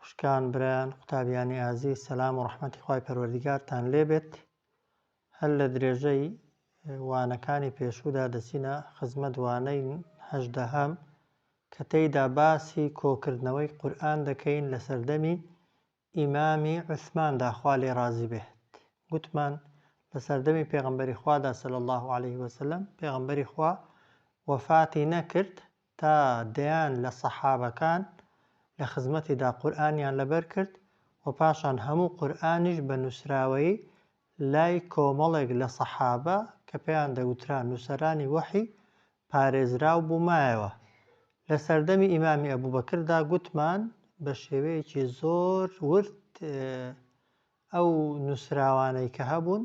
خوشکان برایان قوتابیانی ئازیز سەلام و ڕەحمەتی خوای پەروەردیگارتان لێ بێت هەر لە درێژەی وانەکانی پێشوودا دەچینە خزمەت وانەی هەژدەهەم کە تێیدا باسی کۆکردنەوەی قورئان دەکەین لە سەردەمی ئیمامی عوسماندا خوا لێ ڕازی بێت گوتمان لە سەردەمی پێغەمبەری خوادا صلی الله علیه وسلم پێغەمبەری خوا وەفاتی نەکرد تا دەیان لە سەحابەکان لە خزمەتیدا قورئانیان لەبەر کرد و پاشان هەموو قورئانیش بە نووسراوەیی لای کۆمەڵێک لە سەحابە کە پێیان دەگوترا نووسەرانی وەحی پارێزراو بوو مایەوە. لە سەردەمی ئیمامی ئەبوبەکردا گوتمان بە شێوەیەکی زۆر ورد ئەو نووسراوانەی کە هەبوون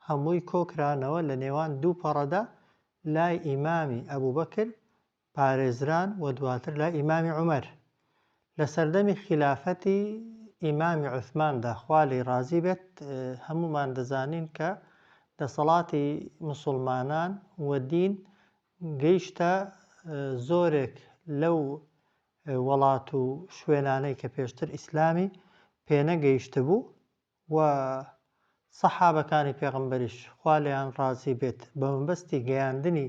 هەمووی کۆکرانەوە لە نێوان دوو پەڕەدا لای ئیمامی ئەبوبەکر پارێزران و دواتر لای ئیمامی عومەر لە سەردەمی خیلافەتی ئیمامی عوسماندا خوا لێی ڕازی بێت هەموومان دەزانین کە دەسەڵاتی مسلمانان و دین گەیشتە زۆرێک لەو وەڵات و شوێنانەی کە پێشتر ئیسلامی پێنەگەیشتبوو و سەحابەکانی پێغەمبەریش، خوا لێیان ڕازی بێت، بەمەبەستی گەیاندنی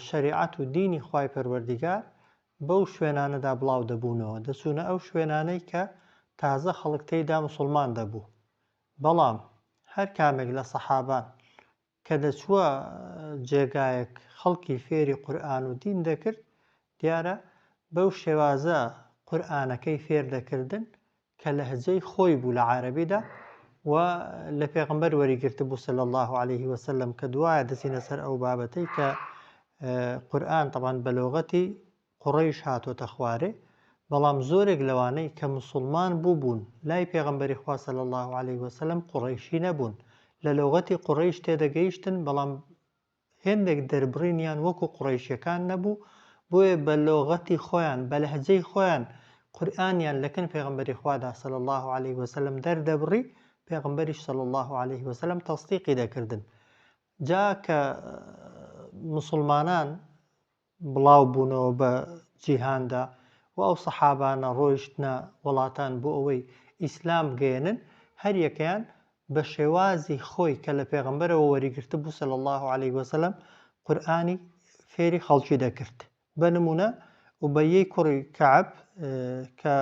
شەریعەت و دینی خوای پەروەردیگار بەو شوێنانەدا بڵاو دەبوونەوە، دەچوونە ئەو شوێنانەی کە تازە خەڵک تێیدا موسڵمان دەبوو، بەڵام هەر کامێک لە سەحابان کە دەچووە جێگایەک خەڵکی فێری قورئان و دین دەکرد، دیارە بەو شێوازە قورئانەکەی فێر دەکردن کە لەهجەی خۆی بوو لە عارەبیدا و لە پێغمبەر وەری گرتبوو صلی الله علیه وسلم کە دوایە دەچینە سەر ئەو بابەتەی کە قورئان طبعا بە لۆغەتی قوڕەیش هاتۆتە خوارێ، بەڵام زۆرێک لەوانەی کە موسوڵمان بووبوون لای پێغەمبەری خوا صلی اللە علیە وسلم قوڕەیشی نەبوون، لە لوغەتی قوڕەیش تێدەگەیشتن بەڵام هێندێک دەربڕینیان وەکو قوڕەیشیەکان نەبوو بۆیە بە لۆغەتی خۆیان بە لەهجەی خۆیان قورئانیان لەکن پێغەمبەری خوادا صلی اللە علیە وسلم دەردەبڕی پێغەمبەریش صلی اللە علیە وسلم تەسدیقی دەکردن جا کە موسوڵمانان بڵاو بوونەوە بە جیهاندا و ئەو سەحابانە ڕۆیشتنە وەڵاتان بۆ ئەوەی ئیسلام بگەیەنن هەر یەکەیان بە شێوازی خۆی کە لە پێغەمبەرەوە وەری گرتبوو صلی اللە علیە وسلم قورئانی فێری خەڵکی دەکرد بە نموونە ئوبەیی کوڕی کەعب کە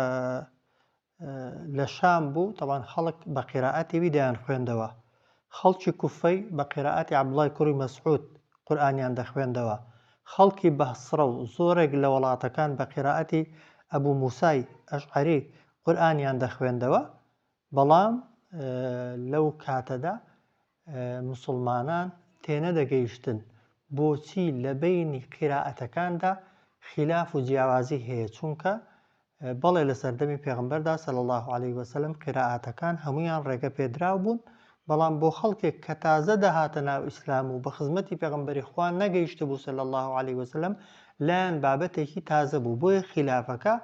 لە شام بوو تەبعەن خەڵک بە قیرائەتی وی دەیان خوێندەوە خەڵکی کوفەی بە قیرائەتی عەبدوڵای کوڕی مەسعود قورئانیان دەخوێندەوە خەڵکی بەهسڕە و زۆرێک لە وەڵاتەکان بە قیرائەتی ئەبو موسای ئەشعەری قورئانیان دەخوێندەوە بەڵام لەو کاتەدا موسڵمانان تێنەدەگەیشتن بۆچی لەبەینی قیرائەتەکاندا خیلاف و جیاوازی هەیە چونکە بەڵێ لە سەردەمی پێغمبەردا صلی الله عليه وسلم قیرائەتەکان هەمویان ڕێگە پێدراو بوون بەڵام بۆ خەڵکێک کە تازە دەهاتە ناو ئیسلام و بە خزمەتی پێغمبەری خوا نەگەیشت بوو صلی الله عليه وسلم لایەن بابەتێکی تازە بوو بۆیە خیلافەکە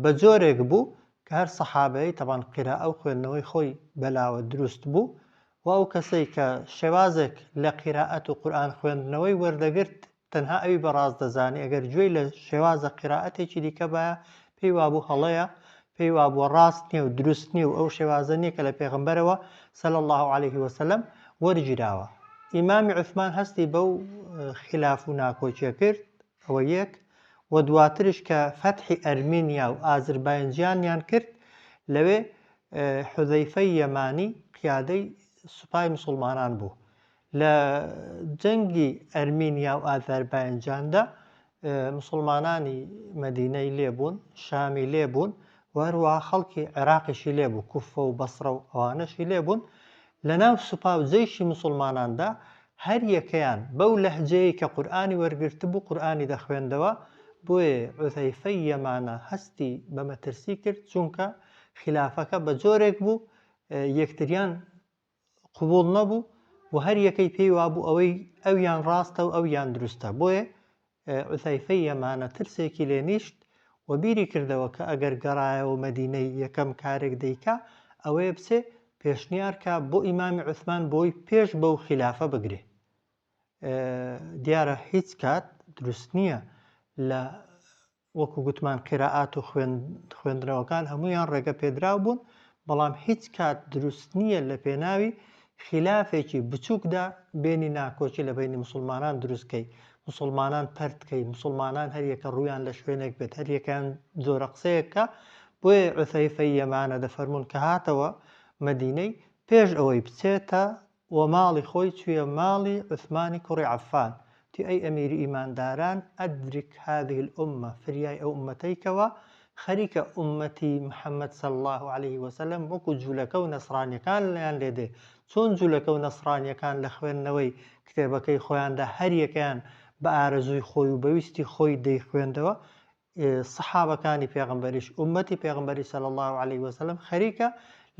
بە جۆرێک بوو کە هەر سەحابەی تەبعەن قیرائە و خوێندنەوەی خۆی بەلاوە دروست بوو و ئەو کەسەی کە شێوازێک لە قیرائەت و قورئان خوێندنەوەی وەردەگرت تەنها ئەوی بە ڕاست دەزانی ئەگەر گوێی لە شێوازە قیرائەتێکی دیکە بایە پێی وابوو هەڵەیە پێی وابووە ڕاست نییە و دروست نییە و ئەو شێوازە نییە کە لە پێغمبەرەوە سەل الله عليه وسلم وەرگیراوە ئیمامی عثمان هەستی بەو خلاف و ناکۆکیە کرد ەوە یەک و دواترش کە فەتحی ئەرمینیا و ئازرباینجانیان کرد لەوێ حوزەیفەی یەمانی قیادەی سوپای مسوڵمانان بوو لە جەنگی ئەرمینیا و ئازرباینجاندا مسوڵمانانی مەدینەی لێ بوون شامی لێ بوون وەروە خەڵکی عێراقیشی لێ بوو کوفە و بەسڕە و ئەوانەشی لێ بوون لەناو سوپا و جەیشی موسوڵماناندا هەر یەکەیان بەو لەهجەیەی کە قورئانی وەرگرتبوو قورئانی دەخوێندەوە، بۆیە عوزەیفەی یەمانە هەستی بە مەترسی کرد چونکە خیلافەکە بە جۆرێک بوو یەکتریان قبوڵ نەبوو و هەر یەکەی پێی وابوو ئەوەی ئەویان ڕاستە و ئەویان دروستە بۆیە حوزەیفەی یەمانە ترسێکی لێ نیشت و بیری کردەوە کە ئەگەر گەڕایەوە مەدینەی یەکەم کارێک دەیکا ئەوەیە بچێ پێشنیار کا بۆ ئیمامی عوسمان بۆی پێش بەو خیلافە بگرێ دیارە هیچ کات دروست نییە لە وەکو گوتمان قیرائات و خوێندنەوەکان هەمویان ڕێگە پێدراو بوون بەڵام هیچ کات دروست نییە لە پێناوی خیلافێکی بچوکدا بێنی ناکۆکی لە بەینی موسڵمانان دروست کەی موسڵمانان پەرت کەی موسڵمانان هەر یەکە ڕوویان لە شوێنێک بێت هەر یەکەیان جۆرە قسەیەک کە بۆیە عوثەیفەی یەمانە دەفەرمونون کە هاتەوە مەدینەی پێش ئەوەی بچێتە و ماڵی خۆی چویە ماڵی عوثمانی کوڕی عەفان تی ئەی ئەمیری ئیمانداران ئەدرک هذه الامە، فریای ئەو ئوممەتەی کەوە، خەریکە ئوممەتی محمد صلی اللە علیە وسلم وەکو جولەکە و نەسڕانیەکان لێیان لێ دێ، چۆن جولەکە و نەسڕانیەکان لە خوێندنەوەی کتێبەکەی خۆیاندا هەریەکەیان بە ئارەزووی خۆی و بە ویستی خۆی دەیخوێندەوە، سەحابەکانی پێغەمبەریش، ئوممەتی پێغەمبەری صلی اللە علیە وسلم، خەریکە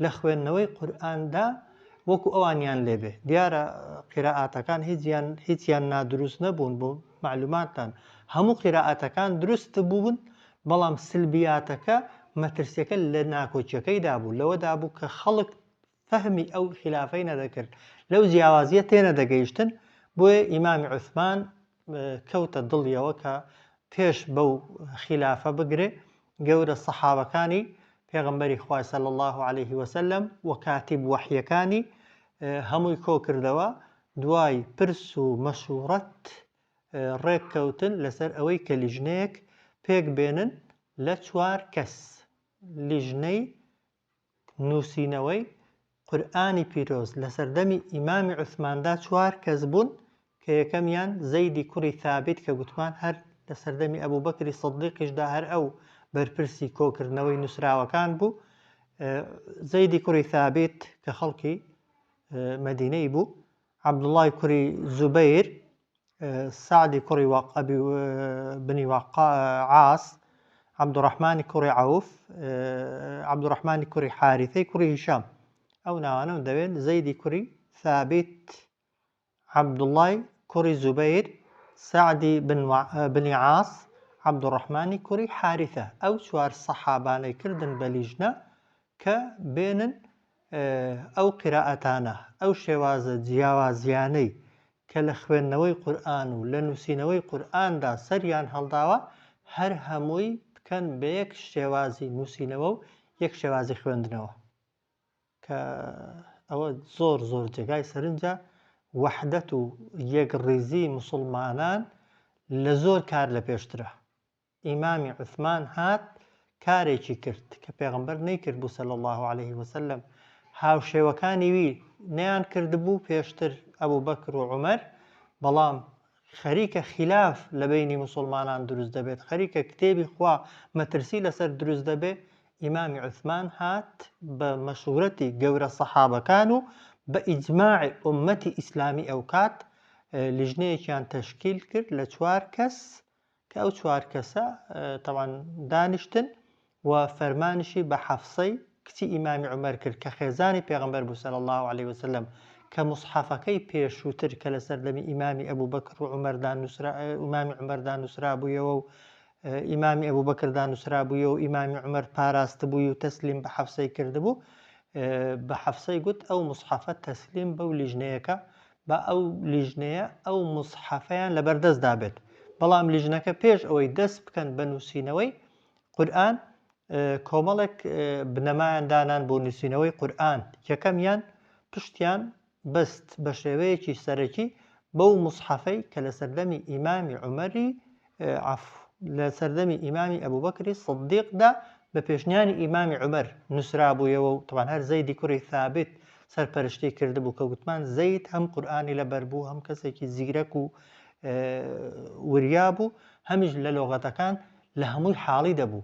لە خوێندنەوەی قورئاندا وەکو ئەوانیان لێبێ دیارە قیرائاتەکان هیچیان هیچیان نادروست نەبوون بۆ معلوماتتان هەموو قیرائاتەکان دروست بوون بەڵام سلبیاتەکە مەترسیەکە لە ناکۆکیەکەیدا بوو لەوەدا بوو کە خەڵک فەهمی ئەو خیلافەی نەدەکرد لەو جیاوازیە تێنەدەگەیشتن بۆیە ئیمامی عوسمان کەوتە دڵیەوە کە پێش بەو خیلافە بگرێ گەورە سەحابەکانی پێغمبەری خوای سەل الله عليه وسلم و کاتیب وەحیەکانی هەمووی کۆکردەوە دوای پرس و مەشورەت ڕێککەوتن لەسەر ئەوەی کە لیژنەیەک پێک بێنن لە چوار کەس لیژنەی نووسینەوەی قورئانی پیرۆز لە سەردەمی ئیمامی عوسماندا چوار کەس بوون کە یەکەمیان زەیدی کوڕی ثابت کە گوتمان هەر لە سەردەمی ئەبوبەکری سدیقیشدا هەر ئەو بەرپرسی کۆکردنەوەی نووسراوەکان بوو زەیدی کوڕی ثابت کە خەڵکی مەدینەی بوو عەبدوڵڵای کوڕی زوبەیر، سەعدی کوڕی وەق ئەبی بنی وەق عاس، عەبدوڕەحمانی کوڕی عەوف، عەبدوڕەحمانی کوڕی حاریثەی کوڕی هیشام. ئەو ناوانەم دەوێت زەیدی کوڕی ثابیت، عەبدوڵڵای کوڕی زوبەیر، سەعدی بن بنی عاس، عەبدوڕەحمانی کوڕی حاریثە. ئەو چوار سەحابانەی کردن بە لیژنە کە بێنن ئەو قیرائەتانە، ئەو شێوازە جیاوازییانەی کە لە خوێندنەوەی قورئان و لە نووسینەوەی قورئاندا سەریان هەڵداوە، هەر هەمووی بکەن بە یەک شێوازی نووسینەوە و یەک شێوازی خوێندنەوە، کە ئەوە زۆر زۆر جێگای سەرنجە، وەحدەت و یەکڕیزیی موسڵمانان لە زۆر کار لە پێشترە. ئیمامی عوسمان هات کارێکی کرد کە پێغەمبەر نەیکردبوو صلی اللە علیه وسلم هاوشێوەکانی وی نەیان کردبوو پێشتر ئەبوبەکر و عومەر بەڵام خەریکە خلاف لە بینی مسلمانان دروست دەبێت خەریکە کتێبی خوا مەترسی لەسەر دروست دەبێت ئیمامی عوسمان هات بە مەشورەتی گەورە سەحابەکان و بە ئیجماعی ئومەتی ئیسلامی ئەو کات لژنەیەکیان تەشکیل کرد لە چوار کەس کە ئەو چوار کەسە تەوان دانیشتن و فەرمانشی بە حەفسەی کچی ئیمامی عمر کرد کە خێزانی پێغمبەر بوو سەر الله عليه وسلم کە مصحفەکەی پێشووتر کە لە سەردەمی ئیمامی ئەبوو بەکر و عمەردان نووسرا ئیمامی عمەردان نووسرا بوویەوە و ئیمامی ئەبوو بەکردان نووسرا بوویە و ئیمامی عمر پاراست بووی و تەسلیم بە حەفسەی کردبوو بە حەفسەی گوت ئەو مصحفە تەسلیم بەو لیژنەیەکە با ئەو لیژنەیە ئەو مسحەفەیان لەبەردەست دابێت بەڵام لیژنەکە پێش ئەوەی دەست بکەن بە نووسینەوەی قورآن کۆمەڵێک بنەمایان دانان بۆ نووسینەوەی قورآن یەکەمیان پشتیان بەست بە شێوەیەکی سەرەکی بەو مسحەفەی کە لە سەردەمی ئیمامی عمەری عەفو، لە سەردەمی ئیمامی ئەبوبەکری سدیقدا بە پێشنیاری ئیمامی عومەر نووسرابوویەوە و تەبعەن هەر زەیدی کوڕی ثابت سەرپەرشتیی کردبوو کە گوتمان زەید هەم قورئانی لەبەر بوو هەم کەسێکی زیرەک و وریا بوو هەمیش لە لۆغەتەکان لە هەمووی حاڵی دەبوو.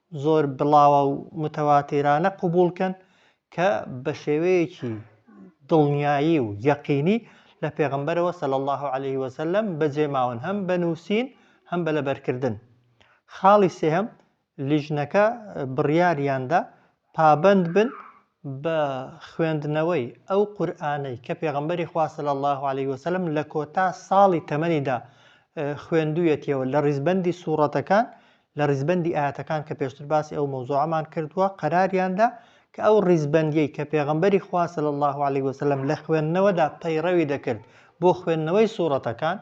زۆر بڵاوە و متەواتیرانە قبوڵ کەن کە بە شێوەیەکی دڵنیایی و یەقینی لە پێغەمبەرەوە صلی اللە علیه وسلم بەجێ ماون هەم بە نووسین هەم بە لەبەرکردن. خاڵی سێهەم، لیژنەکە بڕیاریاندا پابەند بن بە خوێندنەوەی ئەو قورئانەی کە پێغەمبەری خوا صلی اللە علیە وسلم لە کۆتا ساڵی تەمەنیدا خوێندوویەتیەوە لە ڕیزبەندی سوڕەتەکان لە ڕیزبەندی ئاەتەکان کە پێشتر باسی ئەو مەوزوعەمان کردووە قەراریاندا کە ئەو ڕیزبەندیەی کە پێغەمبەری خوا صلی اللە علیە وسلم لە خوێندنەوەدا پەیڕەوی دەکرد بۆ خوێندنەوەی سوڕەتەکان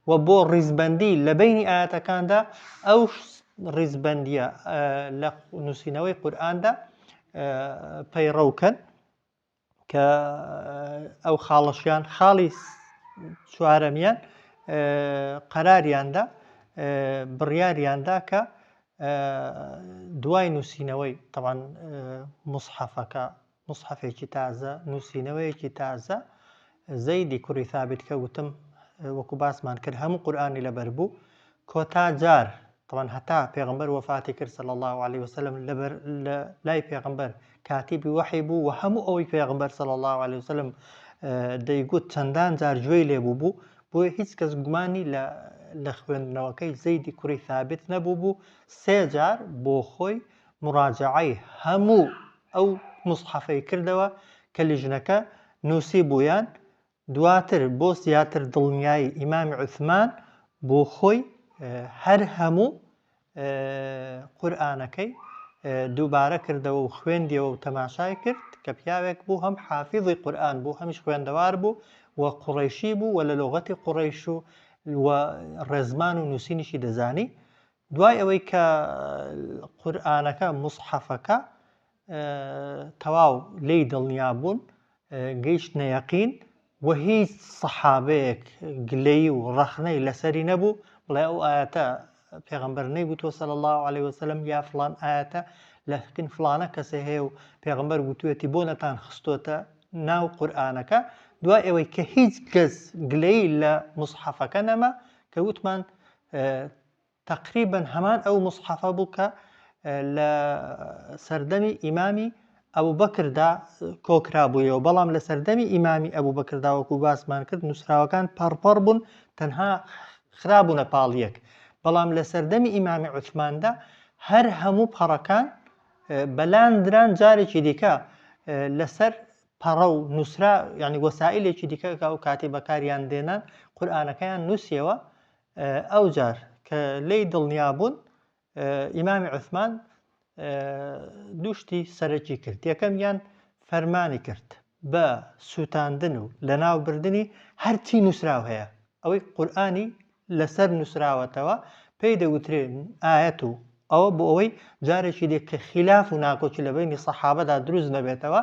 وە بۆ ڕیزبەندی لە بەینی ئایەتەکاندا ئەو ڕیزبەندیە لە نووسینەوەی قورئاندا پەیڕەوکەن کە ئەو خاڵەشیان خاڵی چوارەمیان قەراریاندا بڕیاریاندا کە دوای نووسینەوەی تەوان مسحەفەکە موسحەفێکی تازە، نووسینەوەیەکی تازە، زەیدی کوڕی ثابت کە وتم وەکو باسمان کرد هەموو قورئانی لەبەر بوو، کۆتا جار طبعا هەتا پێغمبەر وەفاتی کرد صلی الله علیه وسلم لەبەر لە لای پێغمبەر کاتیبی وەحی بوو و هەموو ئەوەی پێغمبەر صلی الله علیه وسلم دەیگوت چەندان جار گوێی لێ بوو بوو بۆیە هیچ کەس گومانی لە لە خوێندنەوەکەی زەیدی کوڕی ثابت نەبوو بوو سێ جار بۆ خۆی موراجەعەی هەموو ئەو موسحەفەی کردەوە کە لیژنەکە نووسیبوویان، دواتر بۆ زیاتر دڵنیایی ئیمام عوسمان بۆ خۆی هەر هەموو قورئانەکەی دووبارە کردەوە و خوێندیەوە و تەماشای کرد کە پیاوێک بوو هەم حافیزی قورئان بوو هەمیش خوێندەوار بوو و قوڕیشی بوو و لە لۆغەتی قوڕیش و ڕێزمان و نووسینیشی دەزانی دوای ئەوەی کە قورئانەکە، موسحەفەکە، تەواو لێی دڵنیا بوون، گەیشتنە یەقین و هیچ سەحابەیەک گلەیی و ڕەخنەی لەسەری نەبوو بڵێ ئەو ئاەتە پێغمبەر نەیگوتوە سەل الله عليه وسلم یا فلان ئاەتە لە حکن فلانە کەسێ هەیە و پێغمبەر گوتوێتی بۆ نەتان خستۆتە ناو قورآانەکە دوای ئەوەی کە هیچ کەس گلەی لە مسحەفەکە نەما کە وتمان تەقریبەن هەمان ئەو موسحەفە بوو کە لە سەردەمی ئیمامی ئەبوبەکردا کۆکرابوویەوە بەڵام لە سەردەمی ئیمامی ئەبوبەکردا وەکو باسمان کرد نووسراوەکان پەڕپەڕ بوون تەنها خرابوونە پاڵ یەک بەڵام لە سەردەمی ئیمامی عوسماندا هەر هەموو پەڕەکان بەلان دران جارێکی دیکە لەسەر پەڕە و نووسرا ینی وەسائلێکی دیکە ئەو کاتی بەکاریان دێنان قورآانەکەیان نووسیەوە ئەوجار کە لێی دڵنیا بوون ئیمامی عوسمان دوو شتی سەرەکی کرد یەکەمیان فەرمانی کرد بە سووتاندن و لەناوبردنی هەرچی نووسراو هەیە ئەوەی قورآانی لەسەر نووسراوەتەوە پێی دەوترێن ئاەت و ئەوە بۆ ئەوەی جارێکی دی کە خیلاف و ناکۆکی لە بەینی سەحابەدا دروست نەبێتەوە،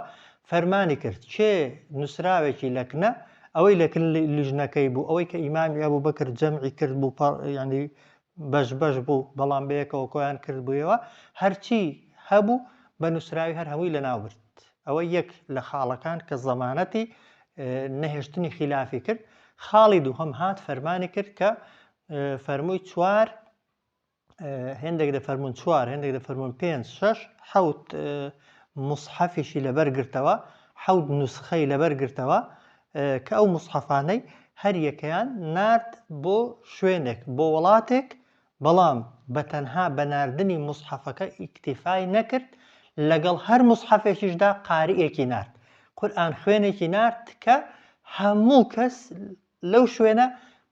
فەرمانی کرد، کێ نووسراوێکی لە کنە، ئەوەی لە کن لیژنەکەی بوو، ئەوەی کە ئیمامی ئەبووبەکر جەمعی کرد بوو، پە، یانی بەش بەش بوو، بەڵام بەیەکەوە کۆیان کردبوویەوە، هەرچی هەبوو بە نووسراوی هەر هەمووی لەناو برد. ئەوە یەک لە خاڵەکان کە زەمانەتی نەهێشتنی خیلافی کرد. خاڵی دووهەم هات فەرمانی کرد کە فەرمووی چوار هێندێک دەفەرموون چوار هێندێک دەفەرموون پێنج شەش حەوت مسحەفیشی لەبەر گرتەوە حەوت نوسخەی لەبەر گرتەوە کە ئەو مسحەفانەی هەریەکەیان نرد بۆ شوێنێک بۆ وڵاتێک بەڵام بە تەنها بە نردنی مسحەفەکە ئیکتیفای نەکرد لەگەڵ هەر مسحەفێکیشدا قارئێکی نرد قورآن خوێنێکی نرد کە هەموو کەس لەو شوێنە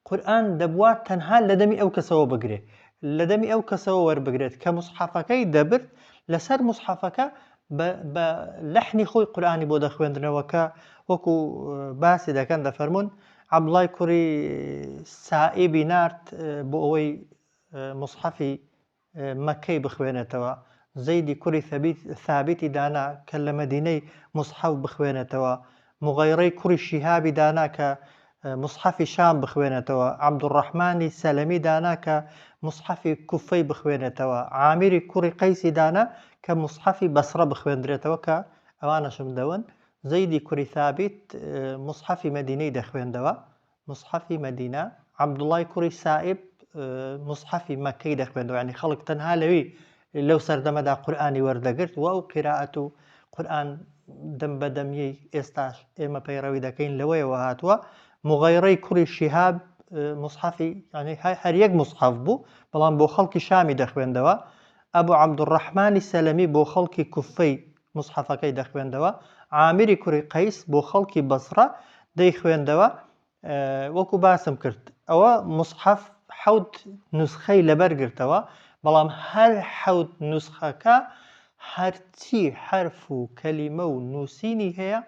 قورئان دەبوا تەنها لە دەمی ئەو کەسەوە بگرێ، لە دەمی ئەو کەسەوە وەربگرێت کە موسحەفەکەی دەبرد، لەسەر موسحەفەکە بە بە لەحنی خۆی قورئانی بۆ دەخوێندرنەوە کە وەکو باسی دەکەن دەفەرموون عەبدوڵای کوڕی سائیبی نارد بۆ ئەوەی موسحەفی مەککەی بخوێنێتەوە، زەیدی کوڕی ثەبیت ثابتی دانا کە لە مەدینەی موسحەف بخوێنێتەوە، موغەیڕەی کوڕی شیهابی دانا کە موسحەفی شام بخوێنێتەوە، عەبدولڕەحمانی سەلەمی دانا کە موسحەفی کوفەی بخوێنێتەوە، عامیری کوڕی قەیسی دانا کە موسحەفی بەسڕە بخوێندرێتەوە کە ئەوانەشم دەون، زەیدی کوری ثابیت موسحەفی مەدینەی دەخوێندەوە، موسحەفی مەدینە، عەبدوڵای کوڕی سائیب موسحەفی مەککەی دەخوێندەوە، یانی خەڵک تەنها لەوی لەو سەردەمەدا قورئانی وەردەگرت و ئەو قیرائەت و قورئان دەم بە دەمیەی ئێستاش ئێمە پەیڕەوی دەکەین لەوەیەوە هاتووە، موغیڕەی کوڕی شیهاب موسحەفی یانی هەر یەک موسحەف بوو، بەڵام بۆ خەڵکی شامی دەخوێندەوە، ئەبو عەبدولڕەحمانی سەلەمی بۆ خەڵکی کوفەی موسحەفەکەی دەخوێندەوە، عامری کوڕی قەیس بۆ خەڵکی بەسڕە دەیخوێندەوە، وەکو باسم کرد ئەوە موسحەف حەوت نوسخەی لەبەر گرتەوە، بەڵام هەر حەوت نوسخەکە هەرچی حەرف و کەلیمە و نووسینی هەیە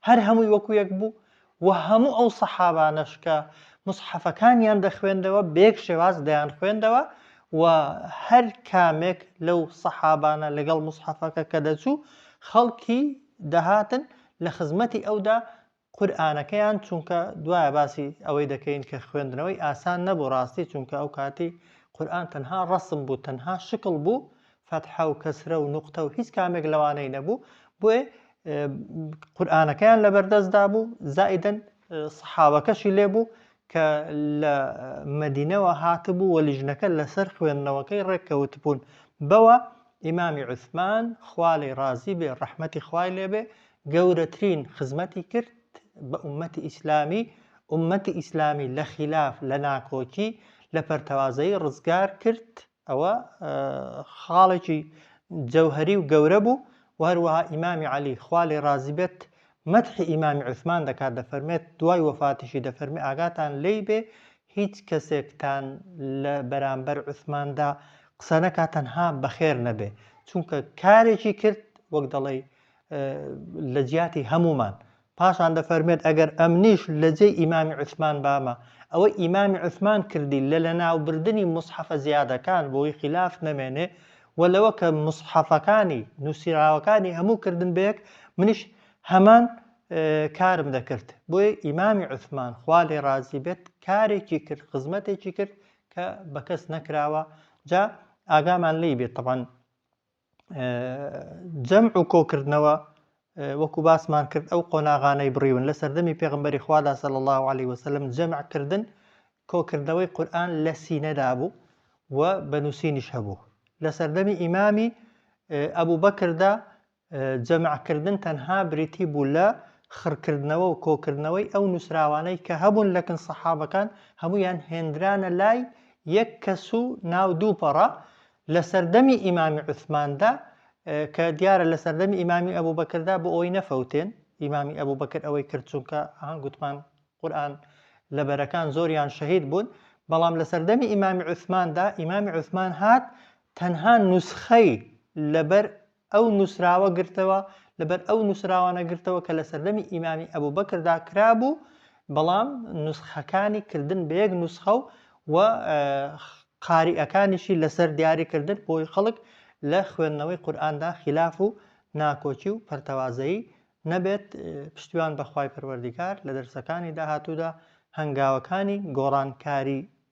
هەر هەمووی وەکو یەک بوو وە هەموو ئەو سەحابانەش کە موسحەفەکانیان دەخوێندەوە بەیەک شێواز دەیانخوێندەوە و هەر کامێک لەو سەحابانە لەگەڵ موسحەفەکە کە دەچوو خەڵکی دەهاتن لە خزمەتی ئەودا قورئانەکەیان چونکە دوایە باسی ئەوەی دەکەین کە خوێندنەوەی ئاسان نەبوو ڕاستی چونکە ئەو کاتی قورئان تەنها ڕەسم بوو تەنها شکڵ بوو فەتحە و کەسرە و نوقتە و هیچ کامێک لەوانەی نەبوو بۆیە قورئانەکەیان لەبەردەست دابوو زائیدەن سەحابەکەشی لێبوو کە لە مەدینەوە هاتبوو و لیژنەکە لەسەر خوێندنەوەکەی ڕێککەوت بوون بەوە ئیمامی عوسمان خوالێ ڕازی بێ ڕەحمەتی خوای لێبێ گەورەترین خزمەتی کرد بە عومەتی ئیسلامی عومەتی ئیسلامی لە خلاف لە ناکۆکی لە پەرتەوازەی ڕزگار کرد ئەوە خاڵێکی جەوهەری و گەورە بوو و هەروەها ئیمامی عەلی خوا لێ ڕازی بێت مەدحی ئیمامی عوسمان دەکات دەفەرمێت دوای وەفاتیشی دەفەرمی ئاگاتان لێی بێ هیچ کەسێکتان لە بەرامبەر عوسماندا قسە نەکات تەنها بەخێر نەبێ چونکە کارێکی کرد وەک دەڵێ لە جیاتی هەمومان پاشان دەفەرموێت، ئەگەر ئەمنیش لە جێی ئیمامی عوسمان بامە، ئەوەی ئیمامی عوسمان کردی لە لەناوبردنی موسحەفە زیادەکان بۆی خیلاف نەمێنێ و لەوە کە موسحەفەکانی نوسیراوەکانی هەموو کردن بەیەک منیش هەمان کارم دەکرد، بۆیە ئیمامی عوسمان خوا لێ ڕازی بێت کارێکی کرد خزمەتێکی کرد کە بە کەس نەکراوە جا ئاگامان لێی بێت تەبعەن جەمع و کۆکردنەوە وەکو باسمان کرد ئەو قۆناغانەی بڕیون لە سەردەمی پێغمبەری خوادا سەل الله عليه وسلم جەمعکردن کۆکردنەوەی قورآن لە سینەدا بوو و بە نووسینیش هەبوو لە سەردەمی ئیمامی ئەبوو بەکردا جەمعکردن تەنها بریتی بوو لە خڕکردنەوە و کۆکردنەوەی ئەو نووسراوانەی کە هەبوون لەکن سەحابەکان هەمویان هێندرانە لای یەک کەس و ناو دووپەڕە لە سەردەمی ئیمامی عوسماندا کە دیارە لە سەردەمی ئیمامی ئەبوبەکردا بۆ ئەوەی نەفەوتێن ئیمامی ئەبوبەکر ئەوەی کرد چونکە ئەها گوتمان قورآن لە بەرەکان زۆریان شەهید بوون بەڵام لە سەردەمی ئیمامی عوسماندا ئیمامی عوسمان هات تەنها نوسخەی لەبەر ئەو نووسراوە گرتەوە، لەبەر ئەو نووسراوانە گرتەوە کە لە سەردەمی ئیمامی ئەبووبەکردا کرابوو، بەڵام نوسخەکانی کردن بە یەک نوسخە و و قاریئەکانیشی لەسەر دیاری کردن بۆی خەڵک لە خوێندنەوەی قورئاندا خیلاف و ناکۆکی و پەرتەوازەیی نەبێت، پشتیوان بە خوای پەروەردیگار لە دەرسەکانی داهاتوودا هەنگاوەکانی گۆڕانکاریی